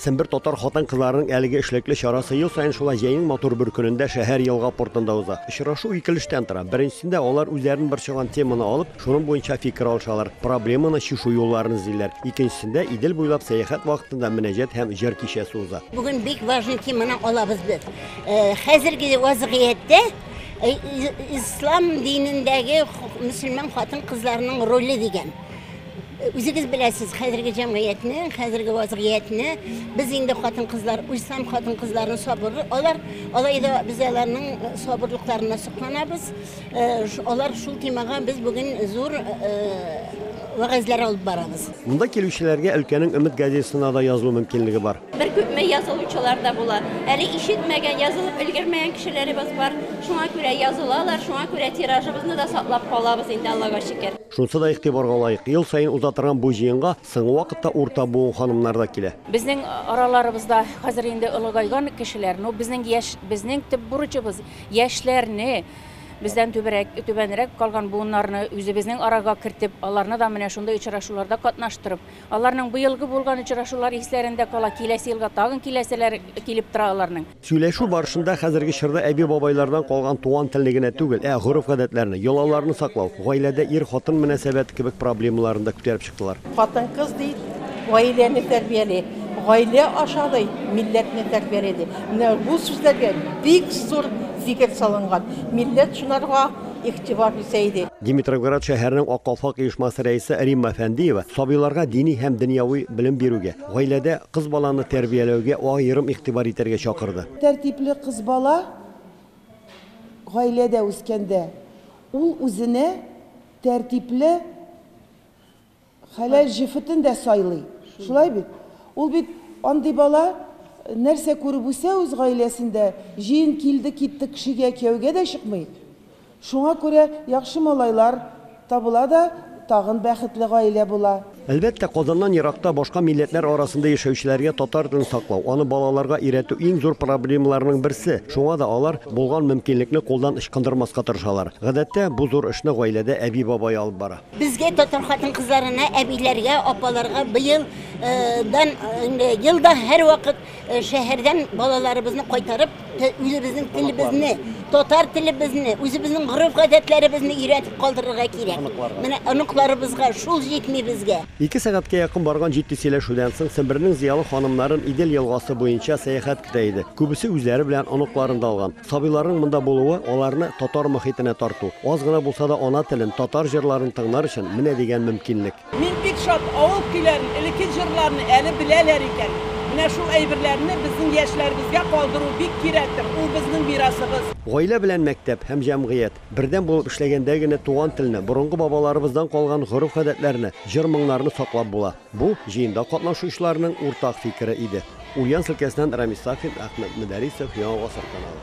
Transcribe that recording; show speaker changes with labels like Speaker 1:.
Speaker 1: Сембер татар хатын-кызларының әлеге эшлекле чарасы ел саен шулай җәйнең матур бер көнендә шәһәр елга портында уза. Очрашу ике өлештән тора. Беренчесендә алар үзләрен борчыган теманы алып, шуның буенча фикер алышалар, проблеманы чишу юлларын эзлиләр. Икенчесендә Идел буйлап сәяхәт вакытында мөнәҗәт һәм җыр кичәсе уза. Бүген бик важный
Speaker 2: теманы алабыз без. Хәзерге вазгыятьтә ислам динендәге мөселман хатын-кызларының роле дигән. Үзегез беләсез, хәзерге җәмгыятьне, хәзерге вазгыятьне, без инде хатын-кызлар, ислам хатын-кызларының сабыры, алар алай да без аларның э, сабырлыкларына сокланабыз. Э, алар шул темага без бүген зур э, вәгазьләр алып барабыз. Монда килүчеләргә
Speaker 1: өлкәнең Өмет газетасына да язылу мөмкинлеге бар. Бер күпме язылучылар
Speaker 3: да була. Әле ишетмәгән, язылып өлгермәгән кешеләребез бар. Шуңа күрә язылалар, шуңа күрә тиражыбызны да саклап калабыз инде Аллага шөкер. Шунысы да игътибарга
Speaker 1: лаек, ел саен уза торган бу җыенга соңгы вакытта урта буын ханымнары да килә. Безнең араларыбызда
Speaker 4: хәзер инде олыгайган кешеләр, но безнең яшь, безнең төп бурычыбыз, яшьләрне, бездән түбәрәк, түбәнрәк калган буыннарны үзебезнең арага кертеп, аларны да менә шундый очрашуларда катнаштырып, аларның быелгы булган очрашулар исләрендә кала, киләсе елга тагын киләселәре килеп тора аларның. Сөйләшү барышында
Speaker 1: хәзерге чорда әби-бабайлардан калган туган телне генә түгел, ә гореф-гадәтләрне, йолаларны саклау, гаиләдә ир-хатын мөнәсәбәте кебек проблемаларны да күтәреп чыктылар. Хатын-кыз ди,
Speaker 5: гаиләне тәрбияли, гаилә аша ди, милләтне тәрбияли, ди. Менә бу сүзләргә бик зур зикер салынган. Милләт шунарга игътибар итә иде. Димитровград шәһәренең
Speaker 1: Ак калфак оешмасы рәисе Римма Фәндиева сабыйларга дини һәм дөньяви белем бирүгә, Гаиләдә кыз баланы тәрбияләүгә аерым игътибар итәргә чакырды. Тәртипле кыз
Speaker 6: бала гаиләдә үскәндә, ул үзенә тәртипле хәләл җефетен дә сайлый. Шулай бит? Ул бит андый бала, нәрсә күреп үсә үз гаиләсендә, җыен килде-китте кешегә кияүгә дә чыкмый. Шуңа күрә яхшы малайлар табыла да тагын бәхетле гаилә була. Әлбәттә, Казаннан
Speaker 1: еракта, башка милләтләр арасында яшәүчеләргә татар телен саклау, аны балаларга өйрәтү иң зур проблемаларның берсе. Шуңа да алар булган мөмкинлекне кулдан ычкындырмаска тырышалар. Гадәттә, бу зур эшне гаиләдә әби-бабай алып бара. Безгә, татар
Speaker 2: хатын-кызларына, әбиләргә, апаларга быел дан инде ел да һәрвакыт Шәһәрдән балаларыбызны кайтарып, үзебезнең телебезне, татар телебезне, үзебезнең гореф-гадәтләребезне өйрәтеп калдырырга кирәк. Оныкларга. Менә оныкларыбызга шул җитми безгә. Ике сәгатькә якын
Speaker 1: барган җитди сөйләшүдән соң, Сембернең зыялы ханымнарын Идел елгасы буенча сәяхәт көтә иде. Күбесе үзләре белән оныкларын да алган. Сабыйларның монда булуы, аларны татар мохитенә тарту. Аз гына булса да ана телен, татар җырларын тыңлар өчен менә дигән мөмкинлек. Мин бик шат,
Speaker 5: авыл көйләрен, элекке җырларны әле беләләр икән. Менә шул әйберләрне безнең яшьләребезгә калдыру бик кирәктер, ул безнең мирасыбыз. Гаилә белән мәктәп
Speaker 1: һәм җәмгыять бердәм булып эшләгәндә генә туган телне, борынгы бабаларыбыздан калган гореф-гадәтләрне, җыр-моңнарны саклап була. Бу, җыенда катнашучыларның уртак фикере иде. Ульяновск өлкәсеннән Рамис Сафин, Әхмәт Мөдәрисов, Яңа гасыр каналы.